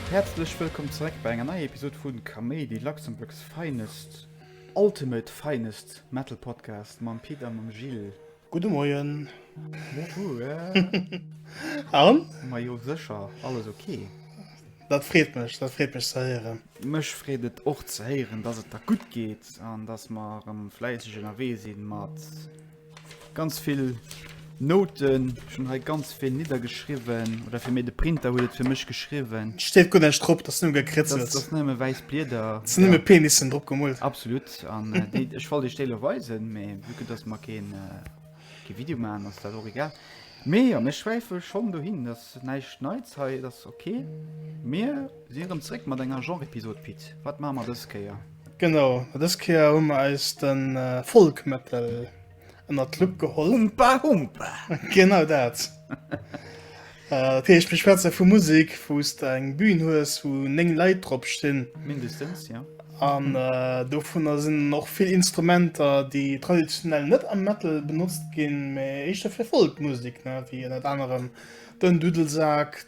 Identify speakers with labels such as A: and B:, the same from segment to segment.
A: Häerzlech wëllkomm zeréck bei enger neier Episod vu Kaméidi, Luxembourg's Finest, Ultimate Finest Metal Podcast mam Pit a mam Gilles. Gudde Moien. An? Ma jo sécher, alles ok. Dat freet
B: mech, dat freet mech ze héieren. Mech freet et
A: och ze héieren, dass et der gutt geet an dass mer erëm fläisseg ënnerwee sinn mat ganz vill Nouten. Ech hunn hei ganz vill niddergeschriwwen, oder fir méi de Printer huet et fir mech geschriwwen. Steet guer näischt drop, dat
B: ass nëmme gekritzelt. Dat ass nëmme wäiss
A: Blieder. Dat sinn nëmme Penissen
B: drop gemoolt. Absolut. an
A: déi ech wollt Dir lo weisen, mee vu que dass mer keen kee Video maachen, ass dat och egal. Mee jo, mir schwäife schonn dohin, dat ass näischt Neits hei, dat ass ok. Mir si erëm zréck mat enger Genre-Episod, Pit. Wat maache mer dës Kéier? Genau, dës
B: Kéier hu mer eis de Folk Metal. ënnert d'Lupp geholl. Humpa Humpa!
A: Genau dat.
B: Dat heescht, mir schwätze vu Musek, wou s de eng Bühn hues, wou néng Leit drop stinn. Mindestens, jo.
A: An
B: dovunner sinn och vill Instrumenter, déi traditionell net am Metal benotzt ginn, mee éischter fir Folk-Musek, wéi ënnert anerem den Dudelsak,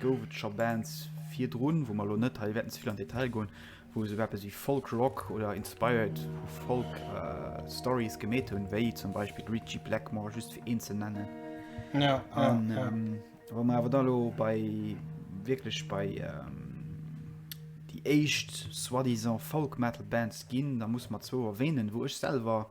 A: Gouf et scho Bands virdrun, wou mer elo net hei wäerten ze vill an Detail goen, wou esouguer eppes wéi Folk Rock oder inspired vu Folk Stories gemeet hunn, wéi zum Beispill Ritchie Blackmore, just fir een ze nennen. Ja, ja,
B: an, ja.
A: Ähm, wa mer awer da lo bei wierklech bei ähm, déi éischt soi-disant Folk Metal Bands ginn, da muss mer zwou erwähnen, wou ech selwer.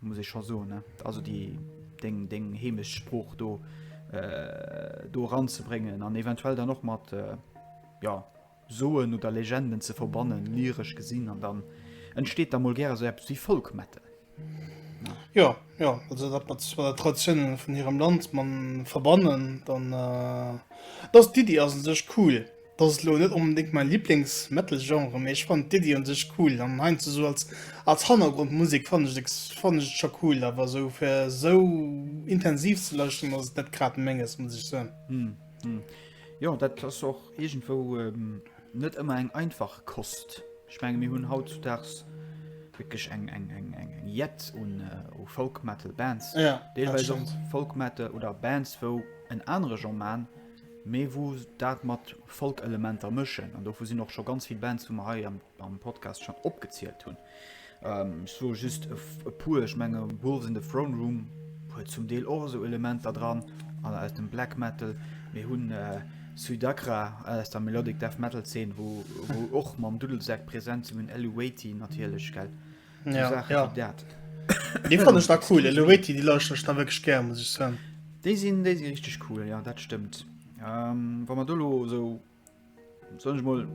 A: muss ech scho soen ne also die deng deng hemesch spruch do äh, do ranzebringen an eventuell dann noch mat äh, ja soen oder legenden ze verbannen lyrisch gesinn an dann entsteht da mal gerne so wie folk mette
B: ja ja also dat mat der traditionen von ihrem land man verbannen dann äh, das die die as sech cool Dass ass elo net onbedéngt mäi Liblingsmetal-Genre, mee ech fannen d'Iddi un sech cool an heiansdo sou als Hannergrondmusek fannen ech et scho cool. Awer sou fir sou intensiv ze lauschteren ass et net grad menges, muss ech soen.
A: Jo, dat ass och iergendwou net ëmmer eng einfach Kost. Ech menge mir hunn hautzudaags wierklech eng Jett un Folk-Metal-Bands, deelweis
B: och
A: Folk-Metal oder Bands wou en anere Genre man, mee wou dat mat Folk-Elementer mëschen, an dovu sinn och scho ganz vill Bands, wou mer hei am Podcast schonn opgezielt hunn. Ech soe just e puer, ech menge Wolves in the Throne Room huet zum Deel och esou Elementer dran, an aus dem Black Metal. Mir hunn Sudakra aus der Melodic Death Metal Zeen, wou och mam Duddelsak present sinn, mir hunn Elluweti natierlech, gell. Ja, so Sachen ja. wie dat. Dee fand
B: ech da cool. Eloeti, déi lauschteren ech da wëg gär, muss ech soen. Déi sinn déi si
A: richtig cool, ja dat stëmmt. Ähm, Wa man dolo so soll ich mal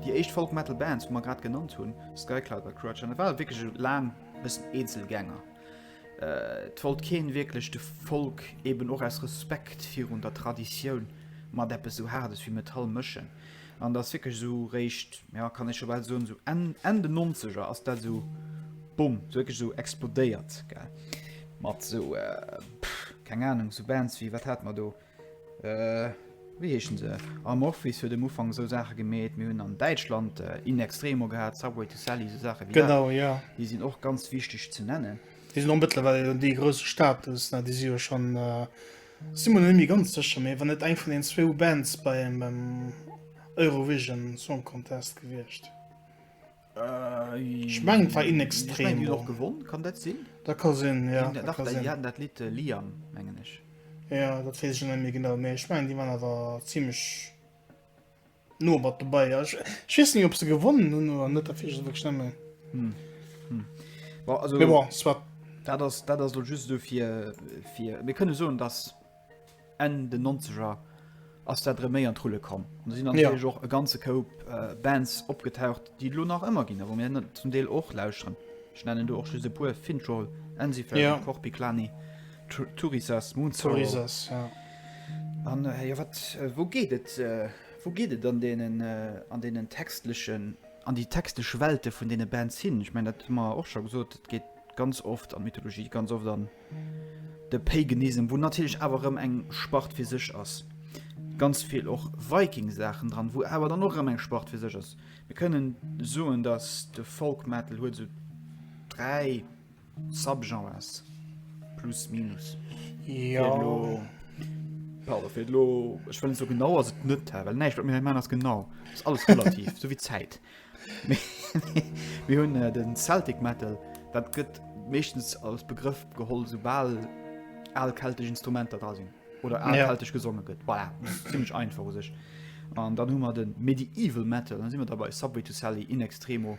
A: die echt Folk Metal Bands wo man grad genannt hunn Skycloud bei Crutch an war wirklich lang bis Einzelzelgänger. Äh, wollt keen wirklich de Folk eben och aus Respekt virun der Tradition mat deppe so hardes wie Metall mëschen. An dat ass wierklech esou réischt, jo kann ee scho bal soen, esou Enn, Enn den Nonzeger ass dat esou Bumm, esou wierklech esou explodéiert, gell. Mat esou, keng Ahnung, esou Bands wéi, wat hate mer do, wéi heeschen se, Amorphis huet um Ufank esou Saache gemeet, mir hunn an Däitschland In Extremo gehat, Subway to Sally, esou Saache wéi dat. Genau, jo. Déi sinn och ganz
B: wichteg
A: ze nennen. Déi sinn och mëttlerweil,
B: déi hu e grouse Status, déi si jo schonn Sin mer net méi ganz secher, mee wann net eng vun den zwou Bands beim Eurovision Song Contest gewiecht. Ech mengen et war Inextremo.
A: Dat ka
B: sinn,
A: jo. Jo, dat weess
B: ech och net méi genau, mee ech mengen déi waren awer zimlech. No mat dobei ja ech ech wees ni op se gewonnen hun oder net derfir just wierklech nemmen Hm hm bon
A: also mee bon soit
B: dat ass dat ass lo
A: just esou fir fir mir kënne soen dass Enn den nonzeger ass dat rem méi an d'Rulle komm an do sinn an jo och e ganze Koup Bands opgetaucht déi lo nach ëmmer ginn a wou mir net zum Deel och lauschteren ech nennen do och just e puer Fintroll, Ensifer, Korpiklani. Turisas Munzor. Turisas,
B: ja. An
A: äh, ja, wat, äh, wo geet et, äh, wo geet et an denen, äh, an denen textlichen, an die textliche Welte vun denen Bands hin? Ich mein, dat hu mer och schon gesot, et geet ganz oft an Mythologie, ganz oft an de Paganism, wo natürlich awer rëm eng Spart fir sech ass. Ganz viel och Viking-Sachen dran, wo awer dann och rëm eng Spart fir sech ass. Wir können soen, dass de Folk Metal huet so drei Subgenres. Plus, minus. Ja.
B: Ja,
A: fir lo ech wëllen so genau ass et net well näicht wat mir man ass genau ist alles relativ so wie Zäit mir hunn äh, den Celtic Metal dat gëtt mechtens als Begriff geholl sobal all kelteg Instrumenter da sinn oder all ja. kelteg gesonge gëtt voilà. ziemlich einfach sech an dann hummer den Medieval Metal dann si wir dabei Subway to Sally in extremo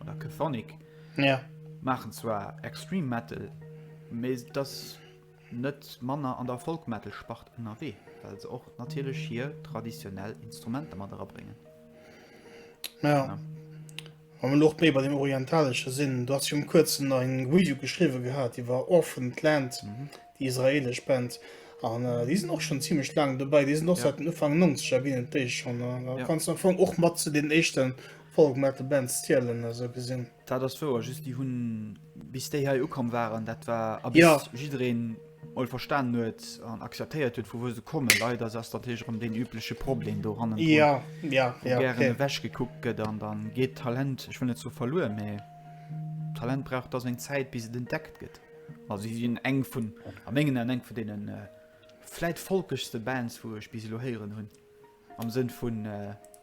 A: oder Kephonic ja. machen zwar extrem metal me das net manner an der Folmetal spacht NRW weil se och natürlich hier traditionell Instrumente man bringen
B: ja. ja. Am Loch méi bei dem orientalesche Sinn, dat zum Kurzen eng Video geschriwe gehabt, Di war offen Land mhm. die israelisch Band. An äh, die sind och schon ziemlich lang dobäi, Di noch ja. seit den Ufang 90 gin déi schon äh, ja. kannst am Fong och mat zu den echten Folk mat de Band Stielen esou gesinn. Dat ass wouer, just déi
A: hunn bis déi hei ukomm waren, dat war a bis ja. jiddereen all verstan huet an akzeptéiert huet, vu wou se kommen. Leider ass dat héich rëm den übleche Problem do hannen.
B: Ja, ja, ja. Gären okay.
A: wäch gekuckt gëtt an dann geet Talent, ech wëll net so verluer, mee Talent brauch da seg Zäit bis et entdeckt gëtt. Also si sinn eng vun a mengen an eng vu denen äh, vläit folkechste Bands, wou ech bis lo héieren hunn am Sënn vun äh,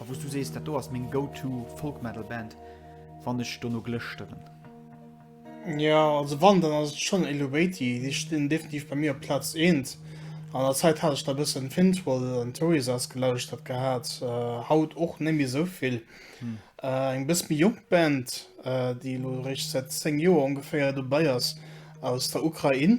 A: A wou s du sees, dat do ass meng go-to Folk-Metal-Band, wann ech dono glëschteren.
B: Jo, also wann, dann ass et schonn Eluveitie. Déi stinn definitiv bei mir op Plaz eent. An der Zäit hat ech da e bëssen Finntroll an Torisaz gelauschtert gehat, haut och net méi esou vill. Eng bëss méi jonk Band, déi elo eréischt säit 10 Joer ongeféier dobäi ass, aus der Ukrain.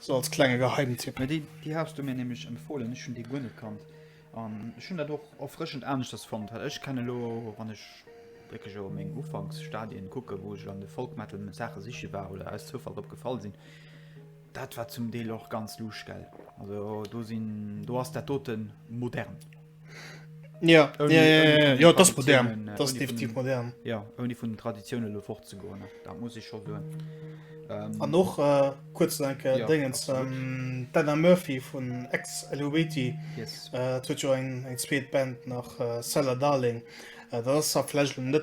B: So
A: als klenge
B: Geheimtipp. Mä déi, déi has du mir
A: nämlech empfohlen, ech hunn déi guer net kannt an ech hunn dat och erfrëschend aneschters fonnt, well ech kenne lo, wann ech wierklech elo meng Ufanksstadien kucken, wou ech an de Folk-Metal Saache siche war oder aus Zoufall drop gefall sinn, dat war zum Deel och ganz luuschgel. Also do sinn, do ass dat doten modern.
B: Ja, only, ja, ja, ja, ja das modern äh, das definitiv von, modern ja irgendwie von den
A: Traditionen fort zu gehen da muss ich schon hören ähm, ah, noch äh,
B: kurz danke äh, ja, Dingens, ähm, Dana Murphy von ex Eluvati yes. äh, ein, ein Band nach äh, Seller Darling äh, das vielleicht nicht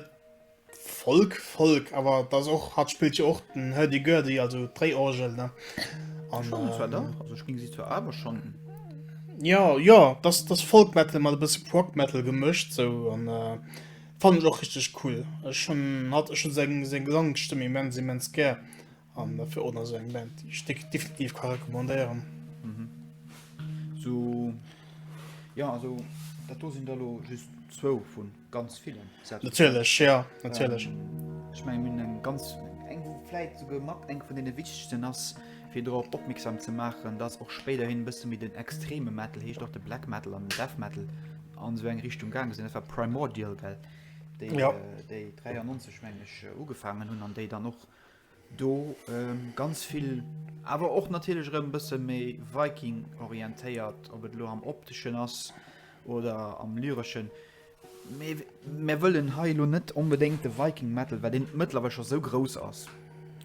B: Folk, Folk, awer et ass och, hatt spillt jo och den Hurdy-Gurdy, also d'Dréiorgel, ne? An, Schonn, et war da,
A: ähm, also ech géing si zwar awer schonn. Ja, jo,
B: et ass, et ass Folk-Metal mat e bësse Prog-Metal gemëscht sou an äh, fannen ech och richteg cool. Ech hunn hatt, ech hunn seng, seng Gesangsstëmm immens, immens gär. An dofir och nach sou eng Band, déi ech definitiv ka recommandéieren. So,
A: jo, also dat do sinn der elo just zwou vu ganz villen Sätz. Natierlech, jo, natierlech. Ech mengen, mir hunn eng ganz, eng wou vläit souguer mat eng vun deene wichtegsten ass, fir drop opmierksam ze maachen, datt och spéiderhin e bësse méi den extreme Metal, heescht och de Black Metal an den Death Metal, an esou eng Richtung gaange sinn. Dat war Primordial, well déi 93, mengen ech, ugefaangen hunn an déi dann och Do ganz vill, awer och natierlech erëm e bësse méi Viking-orientéiert, ob et elo am Opteschen ass oder am Lyreschen. Mee mir wëllen hei elo net onbedéngt de Viking Metal, well deen mëttlerweil scho esou grouss ass,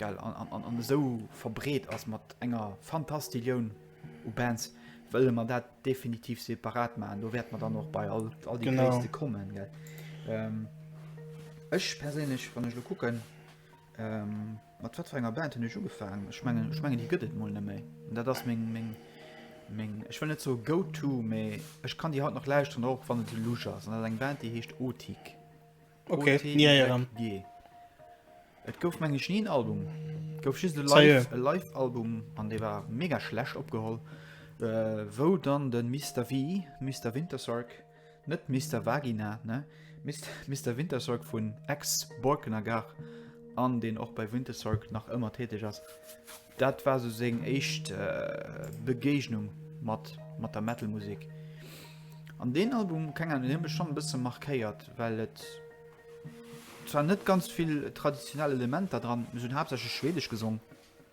A: well an esou verbreet ass mat enger Fantastillioun u Bands, wëlle mer dat definitiv separat maachen. Do wäerte mer dann och bei all déi Gréisste kommen. Ech perséinlech, wann ech elo kucken. Mat wat fir enger Band hunn ech ugefaangen? Ech mengen, ech mengen déi gëtt et mol net méi. Dat ass meng, meng, meng, ech wëll net soe Go-To, mä ech kann déi haut nach lauschteren, och wann et lusch ass. An dat ass eng Band, déi heescht Otik. Okay,
B: ja, ja, dann. OTYG.
A: Et gouf, meng ech, ni en Album. Et gouf just e Live, Sérieux? e Live-Album an dee war mega schlecht opgeholl, wou dann de Mister V, Mister Wintersorg, Net Mister Vagina, ne? Mister Wintersorg vun Ex-Borkener Gare an deen och bei Wintersorg nach ëmmer täteg ass. Dat war sou seng éischt Begéignung mat mat der Metal-Musek. An deen Album, keng Ahnung, deen huet mech schonn e bësse markéiert, well et zwar net ganz vill traditionell Elementer dran, se hunn haaptsächlech Schwedesch gesong,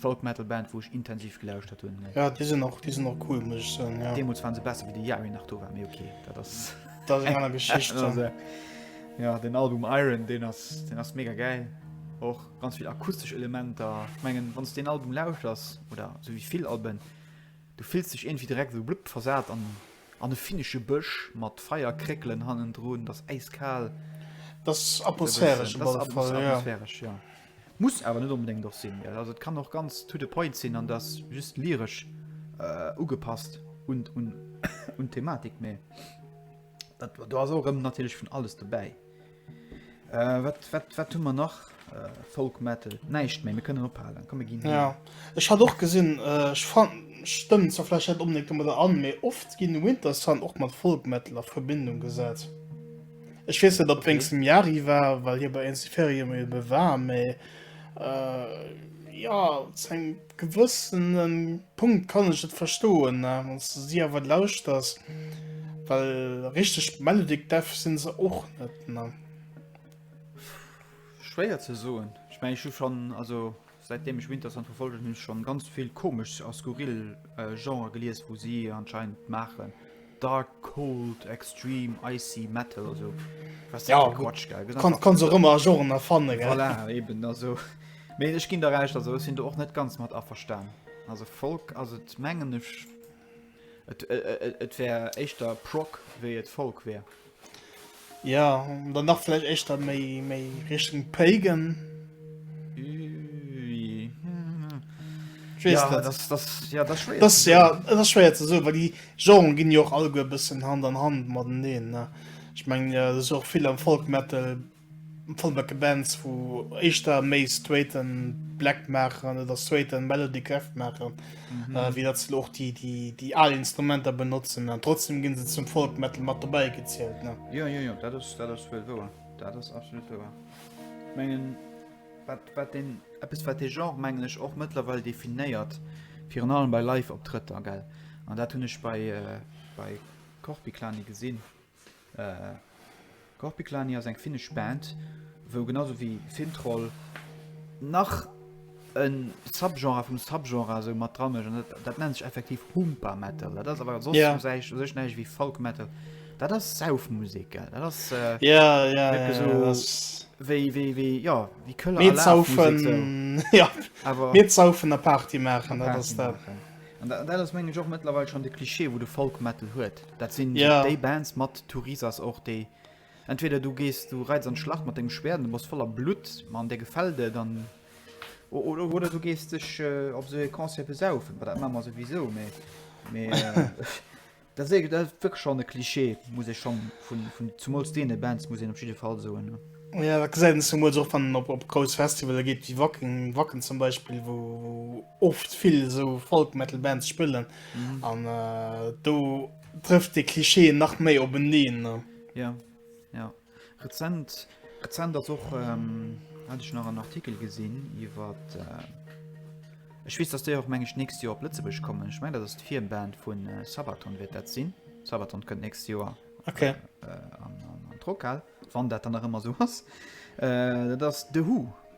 A: Folk Metal Band wou ech intensiv gelauschtert hunn. Ja déi sinn och déi sinn
B: och cool muss ech soen ja. Deemools waren se besser wéi de Jari
A: nach do war, mee ok dat ass Dat
B: ass eng aner Geschicht dann. Ass, äh,
A: ja den Album Iron deen ass deen ass mega gäil. Och ganz vill akustesch Elementer. Ech mengen wann s deen Album lauschters oder sou wéi vill Alben, du fills dech iergendwéi direkt esou blupp versat an an e finnesche Bësch mat Feierkréckelen hannendrun, dat ass äiskal. Dat ass
B: atmosphäresch op alle Fall, ja. Dat ass atmosphäresch,
A: ja. Muss awer net onbedéngt och sinn. Also et kann och ganz to the point sinn an dass just lyresch ugepasst un d'Thematik, mee do ass och erëm natierlech vun alles dobäi. Wat hu mer nach? Folk Metal, näischt méi, mir kënnen ophalen. Komm mir ginn hei. Ja, ech hat och
B: gesinn, ech fannen, stëmmt zwar vläicht net onbedéngt domadder an, mee oft ginn Wintersun och mat Folk Metal a Verbindung gesat. Ech wees net op wéngst dem Jari war, well hie bei Ensiferio méi ebe war, mee äh, ja zu engem gewëssenen Punkt kann ech et verstoen, ne? Wanns du si awer lauschters, well richteg Melodic Death sinn se och net, ne?
A: Schwéier ze soen, ech mengen ech hu schonn, also. Säit deem ech Winterson verfolgen hunn ech schon ganz vill komesch a skurril Genren gelies wou si anscheinend maachen dark, cold, extreme, icy, metal a sou was ja Quatsch gell gëtt
B: einfach kann
A: se rëmmer a
B: Genren erfannen gell voilà eben also
A: mee ech ginn der Recht also ech sinn do och net ganz mat averstan also Folk ass et mengen ech et wär éischter Prog wéi et Folk wär. Ja,
B: dann nach vielleicht echt dann méi, méi Richtung Pagan. Ja, das, das, ja, das, schwer das, ja, das ist schwer zu sagen, weil die Genres gehen ja auch alle ein bisschen Hand an Hand miteinander. Ne? Ich meine, ja, das ist auch viel am Folk Metal Folmecke Bands wou éischter méi straighte Black maachen oder straighte Melody Death maachen, wéi datt se elo och déi al Instrumenter benotzen. An trotzdeem gi se zum Folk Metal mat dobäi gezielt. Jo, jo, jo, dat ass, dat
A: ass wuel wouer. Dat ass absolut wouer. Ech mengen, wat, wat deen, eppes wat dee Genre, mengen ech, och mëttlerweil definéiert, virun allem bei Live-Optrëtter, gell, an dat hunn ech bei, bei Corpiclani gesinn, Korpiklaani ass eng finnesch Band, wou genau sou wéi Fintroll nach e Subgenre vum Subgenre esou mat dra mécht. An dat nennt sech effektiv Huumpa Metal. Dat ass awer soss u säich, u sech näischt ewéi Folk Metal. Dat ass Saufmusek, gell? Dat ass wierklech esou wéi, wéi, wéi, jo, wéi Këller a Lafmusek
B: sou. Mir zaufen a Party maachen, dat ass dat. An dat
A: ass, mengen ech, och mëttlerweil schonn de Cliché, wou de Folk Metal huet. Dat sinn yeah. déi Bands mat Tourisas och déi. Entweder du gees du reiz an Schlacht mat dem Schwär, du muss voller Blut man der gefällde dann oder, oder du gees dech äh, op se Konzer besaufen, wat dat mammer sowieso méi. Äh, da se dat schon de Klischee muss ich schon vun vun zumols dee Bands muss op jeden Fall so. Ne? Ja, da gesehen, dass du
B: mal so von, ob, ob groß Festival geht wie Wacken, Wacken zum Beispiel, wo, wo oft vill esou Folk Metal Bands spillen an do trëfft de Klischee nach méi op en een. Ja
A: ja rezent rezent ass och hat ech nach en Artikel gesinn iwwer ech weess dass déi och meng ech nächst Joer op Lëtzebuerg kommen. Ech meng dat ass d'Firband vun Sabaton wäert dat sinn. Sabaton kënnt nächst Joer okay. äh,
B: an, an,
A: an Trockhal, wann dat dann nach ëmmer so ass. Äh, dat ass The Who.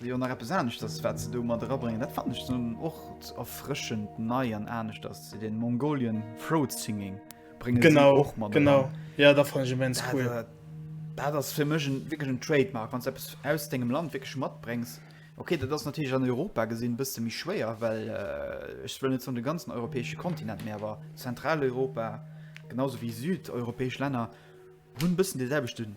A: Jo, nach eppes aneschters wat se do mat erabréngen, dat fannen ech dann och erfrëschend nei an aneschters, se den Mongolian Throat Singing bréngen se och mat eran. Genau,
B: genau.
A: Jo, dat fannen
B: ech
A: immens
B: cool. Dat, äh, dat ass
A: fir mech en wierklech en Trademark, wann s de eppes aus dengem Land wierklech matbréngs. Okay, dat ass natierlech an Europa gesinn e bësse méi schwéier, well äh, ech wëll net soen de ganzen europäesche Kontinent, mee awer Zentraleuropa, genau esou wéi südeuropäesch Länner hunn e bëssen dee selwechten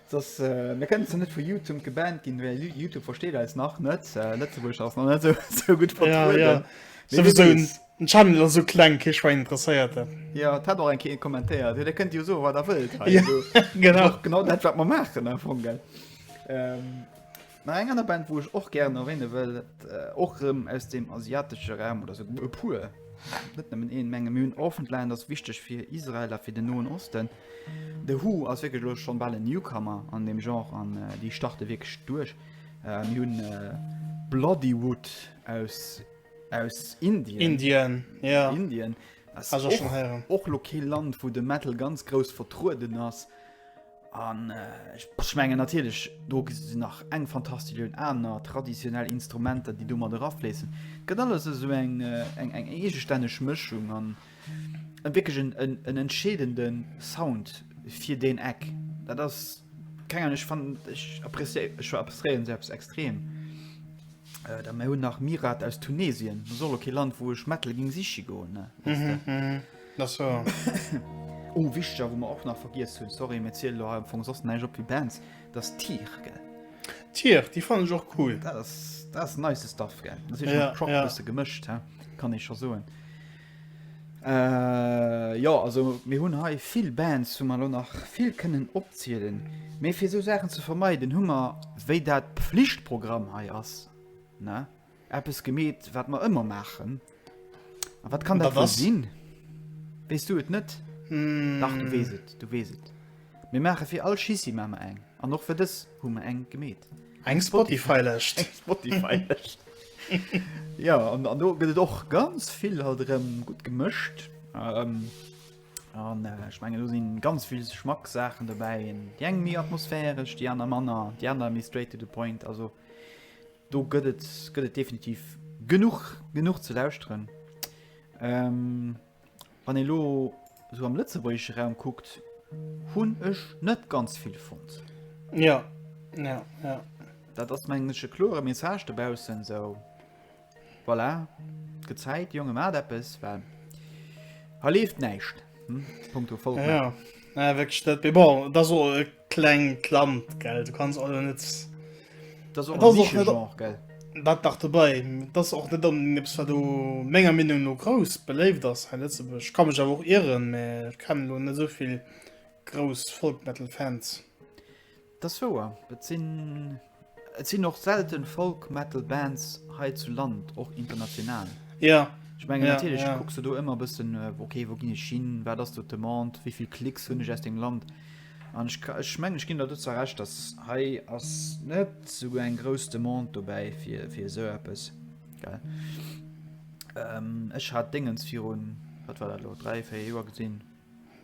A: Dass mir kënnen zwar net vu Youtumb gebannt ginn, well Youtube versteet eis nach net. Lëtzebuerg ass nach net esou esou gutt vertrueden. Ja, ja. Mee wie Souwisou,
B: weess. den Channel ass esou kleng, kee Schwäin interesséiert en. Jo, et hat och eng
A: Kéier ee kommentéiert, jo, dir kënnt jo soe wat der wëllt hei. Jo, genau.
B: Genau
A: dat wat mer maachen am Fong, gell. Mä eng aner Band, wou ech och gären erwäne wëll, och erëm aus deem asiatesche Raum, oder esouguer e puer, net nëmmen een, mengen mir hunn Orphaned Land ass wichteg fir Israel a fir den Noen Osten. The Who ass wierklech elo schonn bal en Newcomer an deem Genre an déi starte wierklech duerch. Mir hunn Bloodywood aus, aus Indien. Indien, jo.
B: Indien ass
A: och, och elo
B: kee Land, wou
A: de Metal ganz grouss vertrueden ass. An ech mengen natierlech do sinn nach eng fantastisch un aner traditionell Instrumenter, déi do mat erafléissen. Gëtt alles esou eng eng eng eegestänneg Mëschung an en wierklech en en en entscheedende Sound fir deen Eck. Dat ass keng Ahnung, ech fannen, ech apprecié, ech appréciéieren se eppes extrem. Da mir hunn nach Myrath aus Tunesien, soll och kee Land wou ech Metal géing siche goen, ne, wësst Der. Na
B: so. Oh
A: wichtiger wou mer och nach vergiess hunn, sorry mir zielen elo hei am Fong soss näischt op wéi Bands, dat ass Tyr gell? Tyr, déi
B: fannen ech och cool. Dat ass, dat ass
A: nice Stuff gell, dat ass eescht mat Prog e bësse gemëscht he, kann ee scho soen. Jo also mir hunn hei vill Bands wou mer elo nach vill kënnen opzielen, mee fir esou Saachen ze vermeiden hu mer, wéi dat Pflichtprogramm hei ass ne, Eppes gemeet, wat mer ëmmer maachen. A wat kann dat wëll sinn? Wees du et net? Mm. Dach, du wees et, du wees et. Mir maache fir all Schissi ma mer eng. An och fir dës hu mer eng gemeet. Eng
B: Spotify-Lëscht. Eng Spotify-Lëscht.
A: ja, an, an do gëtt et och ganz vill halt rëm gut gemëscht. Ähm, an äh, ich menge, do sinn ganz vill Schmacksaachen dobäi. Di eng méi atmosphäresch, déi aner manner, déi aner méi straight to the point. Also, Do gëtt et gëtt et definitiv genuch genuch ze lauschteren. Ähm, wann ee lo sou am lëtzebuergesche Raum kuckt, hunn ech net ganz vill fonnt. Ja, ja, ja. Dat ass mengen ech e klore Message dobaussen, sou voilà, et gëtt Zäit, Jonge maacht eppes, well hei leeft näischt, hm, punkto Folk. Ja, ja. Naja,
B: wierklech, dat, bon, dat ass och e. klengt Land gell du kannst also net das och
A: das auch net gell dat nach dabei
B: das auch net dann nips war du menger Meinung no groß beléift das he Lützeburg kann mich aber auch irren me kann lo net soviel groß Folkmetal Fans
A: das woer dat sinn Et sinn och selten Folk Metal Bands
B: hei zu
A: Land, och international. Ja. Ech mengen natierlech kucks du do ëmmer bëssen ok wou ginn ech hin, wat ass do d'Demande, wéivill Klicks hunn ech aus deem Land an ech ka ech mengen ech ginn der dozou Recht, datt hei ass net esou eng grouss Demande dobäi fir fir esou eppes gell. Ech hat Déngens virun wat war dat elo 3, 4 Joer gesinn.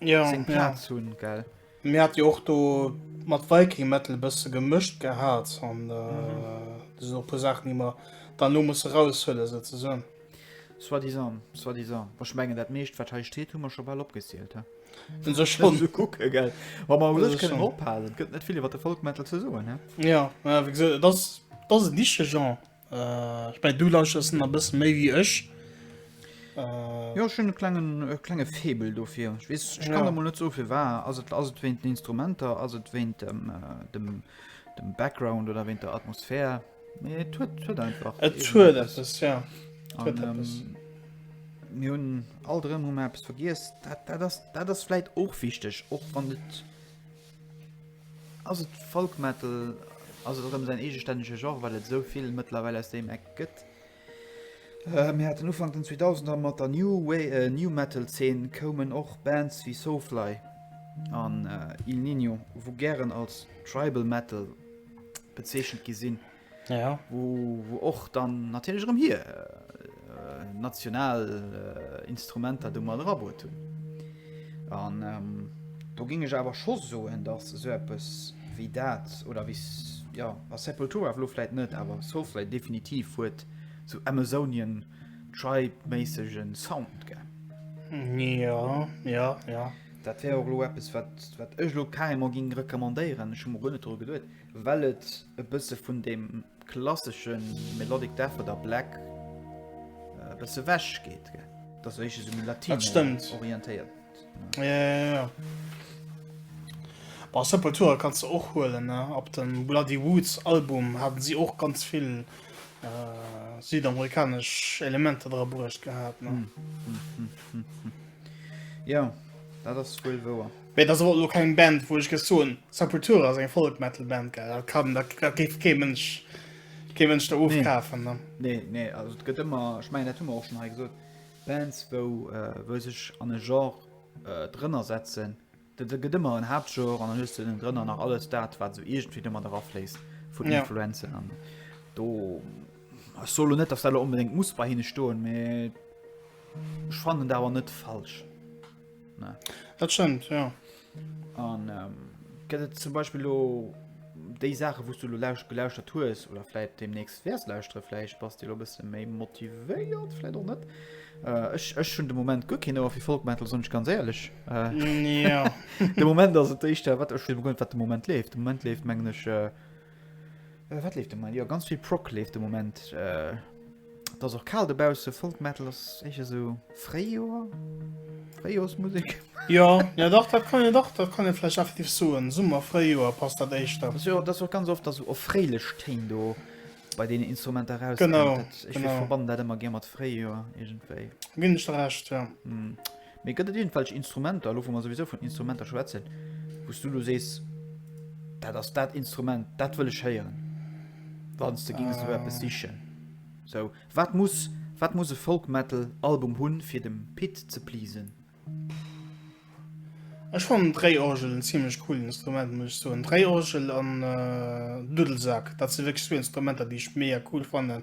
A: ja,
B: seng Plaz ja. hunn,
A: gell? Mir hat jo och do
B: mat Viking Metal bësse gemëscht gehat an äh, mhm. äh, puer Saachen déi mer dann lo musse raushuelen se ze sinn. Soi
A: disant, soi disant. Wach mengen dat meescht wat hei steet hummer scho bal opgezielt ha. Den sech schon ze
B: kucke gell. Wa
A: mer lech kënnen ophalen, gëtt
B: net vill iwwer de
A: Folkmetal ze soen he. Ja, ja
B: dat dat en niche Genre. Ech meng du lauschters en a bëssen méi wéi ech. Äh,
A: jo schon klengen äh, klenge Febel dofir ich wees ich kann ja. net so viel war also also wenn den Instrumenter also wenn dem äh, dem dem background oder wenn der Atmosphär nee, tut, tut einfach tut etwas, ja. tut Und,
B: ähm, mir hun
A: all drin hun apps vergis dat das dat das vielleicht och wichtig och wann net Ass et Folk Metal? Ass et erëm säin eegestännege Genre, well et esou vill mëttlerweil aus deem Eck gëtt? Mir haten Ufank den 2000er mat der New New Metal Zeen koumen och Bands wéi Soulfly an Il Niño, wou gären als Tribal Metal bezeechent gi sinn. Ja. Wou,
B: wou och
A: dann natierlech erëm hir national Instrumenter do mat erabuert hunn. An do géing ech awer scho soen, datt esou eppes wéi dat oder wéi ja, a Sepultura lo vläit net, awer Soulfly definitiv huet sou Amazonian Tribe-méissege Sound, gell? Ja,
B: ja, ja. Dat wär och lo eppes,
A: wat, wat ech lo carrément géing recommandéieren. Ech hu mer guer net dru geduet. Well et e bësse vun deem klassesche Melodic Death oder Black e bësse ewech geet, gell? Dat ass éischter esou méi latino-orientéiert. Ja, ja,
B: ja. Bei Sepultura kanns de och huelen, ne? Op dem Bloody Woods Album haten si och ganz vill südamerikanesch Elementer dra bruecht gehat, ne?
A: Ja, dat ass wuel wouer. Mee et ass awer och elo keng
B: Band, wou ech géif soen, Sepultura ass eng Folk-Metal-Band, gell? Dat kann, dat, dat géif kee Mënsch, kee Mënsch der ofkafen, ne? Nee, nee, also et gëtt
A: ëmmer, ech mengen, dat hu mer och schonn hei gesot, Bands, wou, wou sech an e Genre drënner setzen. Da gëtt ëmmer en Haaptgenre an dann hues de ënnen drënner nach alles dat, wat esou iergendwéi domat erafléisst vun Influenzen an do. Ech soe lo net, datt dat elo onbedéngt muss bei hinne stoen, mee ech fannen dat awer net falsch. Dat schëmmt
B: jo. An
A: gëtt et zum Beispill lo déi Saache wous du lo lauscht gelauschtert hues oder fläit demnächst wärs lauschtere fläicht bass de lo bësse méi motivéiert fläit och net ech ech hunn de moment guer keen ower fir Folk Metal soen ech ganz éierlech
B: de moment
A: ass et éischter wat ech begoen wat de Moment leeft de Moment leeft mengen ech Äh, wat leeft de Moment? Jo, ganz vill Prog leeft de Moment. Äh, et ass och kal dobausse, Folk Metal ass éischer esou Fréijoer, Fréijoersmusek. Jo, jo dach,
B: dat kann een, dach, dat kann een vläicht effektiv soen. Summer, Fréijoer passt dat éischter. Dat ass jo, dat ass och ganz oft da
A: sou erfréilech Téin do bei deenen Instrumenter erauskommen. Genau, Dat, ech genau.
B: verbannen dat
A: ëmmer gär
B: mat
A: Fréijoer iergendwéi. Ginn ech der Recht,
B: jo. Mee gëtt et
A: iergendwelch Instrumenter, elo wou mer souwisou vun Instrumenter schwätzen, wou s du elo sees, dat ass dat Instrument, dat wëll ech héieren, wann s de géings elo eppes sichen? Sou, wat muss, wat muss e Folk-Metal-Album hunn, fir dem Pit ze pleasen?
B: Ech fannen d'Réiorgel en zimmlech coolen Instrument, muss ech soen. D'Réiorgel an Duddelsaack, dat si wierklech zwou Instrumenter, déi ech mega cool fannen.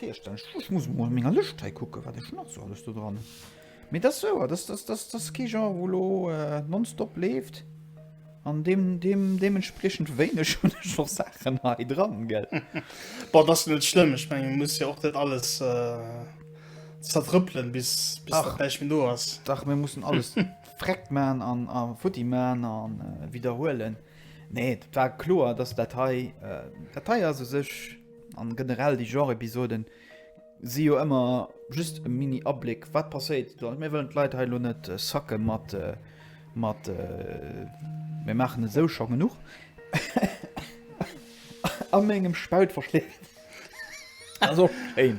A: Virstellen. Ech muss mol an menger Lëscht hei kucken, wat ech nach sou alles do dran hunn. Mee et ass souer, dass dass dass dass kee Genre, wou elo nonstop leeft an deem deem deementspriechend wéineg hunn ech och Saachen hei dran, gell? Bon, dat ass
B: net schlëmm. Ech mengen, et muss jo och net alles zertrëppelen, bis bis dat Dach. näischt méi do ass.
A: Dach,
B: mir mussen alles
A: vreckt man an a futti man an widderhuelen. Nee, dat war kloer, dass dat hei dat hei ass u sech. An generell déi Genre Episoden si jo ëmmer just e mini Abléck wat passéit. Mir wëllen d'Leit hei lo net sacke mat mat mir maachen et sou scho genuch a mengem Spaut verschléckt. Ass och schéin.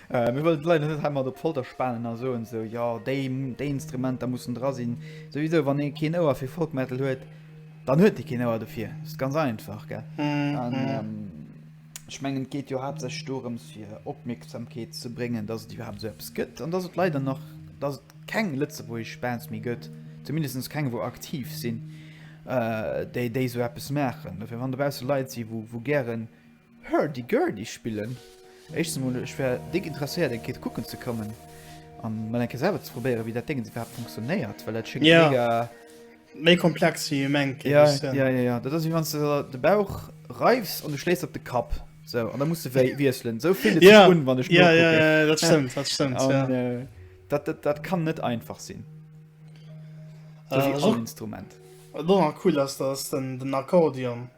A: Mir wëllen d'Leit net hei mat op d'Folter spanen a soen esou, jo déi Instrumenter mussen dra sinn. Souwisou wann ee keen Ouer fir Folk Metal huet, Dann huet dee keen Ouer dofir, dat ass ganz einfach. Ech mengen et geet jo haaptsächlech dorëms fir Opmierksamkeet ze bréngen, datt et iwwerhaapt esou eppes gëtt an datt et leider nach datt et keng lëtzebuergesch Bands méi gëtt, zumindest keng wou aktiv sinn, déi déi esou eppes maachen. Dofir wann dobausse Leit si wou gären Hurdy Gurdy spillen. Éischtens emol, ech wär déck interesséiert eng Kéier kucken ze kommen an mol eng Kéier selwer ze probéieren wéi dat Déngens iwwerhaapt funktionéiert, well dat schéngt ja. mega
B: méi komplex wéi ee mengt. Ja, ja, ja, ja,
A: dat ass wéi wann s de de Bauch reifs an du schléis op de Kapp sou an da muss de wéi wiesselen. Sou fillt et sech un wann ech nokucken. Ja, ja,
B: ja,
A: dat
B: stëmmt, dat stëmmt. An ja. dat,
A: dat, dat kann net einfach sinn. Dat ass all Instrument.
B: Wat
A: och nach cool
B: ass, dat ass den, den Akkordeon.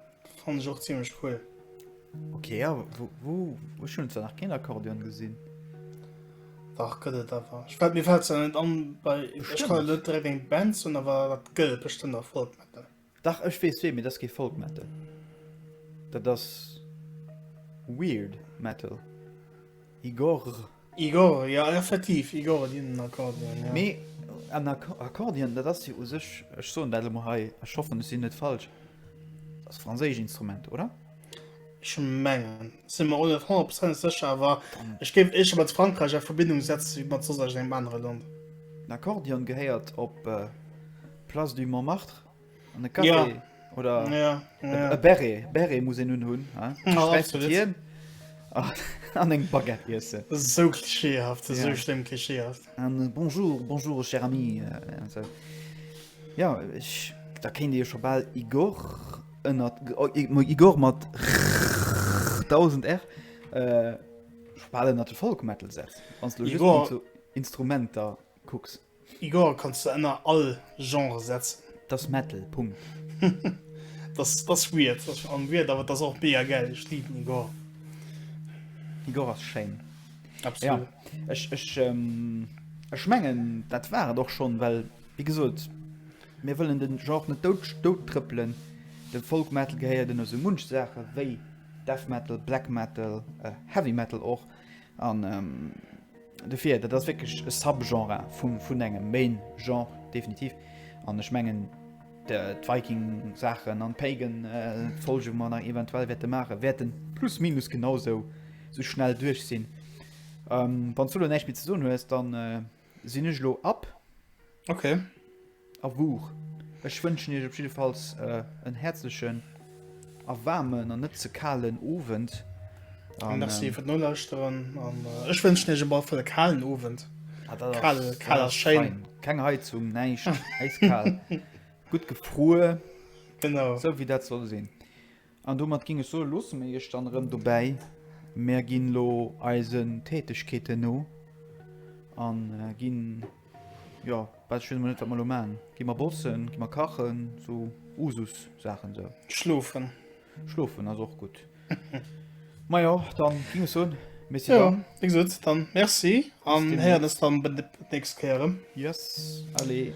B: Fand ich och ziemlich cool. Okay, ja,
A: wo, wo, wo schon zwar nach kein Akkordeon gesehen.
B: Dach gëtt et awer. Ich fällt mir fällt ja net an bei ich kann net direkt eng Band hun awer dat gëtt bestimmt der Folk metal. Dach ech wees wee
A: mir das ge Folk metal. Dat das weird metal. Igor.
B: Igor, Jo, effektiv, Igor, et een Akkordeon, jo. Mee
A: en Akkordeon, dat ass jo u sech, ech soen dat elo mol hei, ech hoffen, ech sinn net falsch, dat ass e franséischt Instrument, oder? Ech
B: mengen. Ech si mer och net honnertprozentlech sécher, awer ech géif éischter mat Frankräich a Verbindung setze wéi mat soss iergendengem anere Land. Den Akkordeon
A: gehéiert op d'Place du Montmartre. An e Café. Ja. Oder ja, ja. e
B: Berre. Berre
A: muss en nun hunn. Hien an eng Baguette iessen. Sou klischeehaft,
B: sou ja. schlimm klischeehaft. An äh, Bonjour, bonjour,
A: cher ami. Also, äh, ja, ich, da kennt Dir schon bald Igor ënnert oh, Igor mat 1000 R. Äh, Spalen hat Folkmetal setzt. Wann du Igor. Instrumenter kucks. Igor, kanns de
B: enner all Genre setzen. Dass Metal, Punkt. Dass dass weird, dass fir all weird, awer dass och mega gäil. Ech liben Igor.
A: Igor ass schéin. Absolut. Ja,
B: ech ech
A: ech mengen dat war et och schonn, well wéi gesot mir wëllen de Genre net dout dout trëppelen. De Folk Metal gehéiert ënner sou munch Saache wéi Death Metal, Black Metal, Heavy Metal och an. Dofir, dat ass wierklech e Subgenre vum, vun engem Main-Genre, definitiv. An ech mengen, d'Viking-Saachen an d'Pagan, äh, Folge, wou mer nach eventuell wäerte maachen, wäerten plus minus genau sou, sou schnell duerch sinn. Ähm, wann s du elo näischt méi ze soen hues, dann, äh, sinn ech elo up. Ok
B: a
A: wuch ech wënschen iech op jiddefalls en häerzlechen a waarmen an net ze kalen Owend. Merci
B: fir d'Nolauschteren an ech wënschen iech op alle Fall e kalen Owend. Kal ass schéin. Keng Heizung,
A: näischt, äiskal, gutt gefruer, esou
B: wéi dat soll sinn.
A: An domat ging ech soen, loosse mir iech dann erëm dobäi. Mär ginn elo eisen Tätegkeeten no an ginn, jo, well ech weess emol net wat mer elo maachen. Gi mer bossen, gi mer kachen, sou Usus Saachen esou. Schlofen.
B: Schlofen ass
A: och gutt. Majo, dann ging ech soen, Merci dann. Jo, wéi gesot,
B: dann
A: Merci
B: an héieren eis dann d'nächst Kéier erëm. Yes, allez.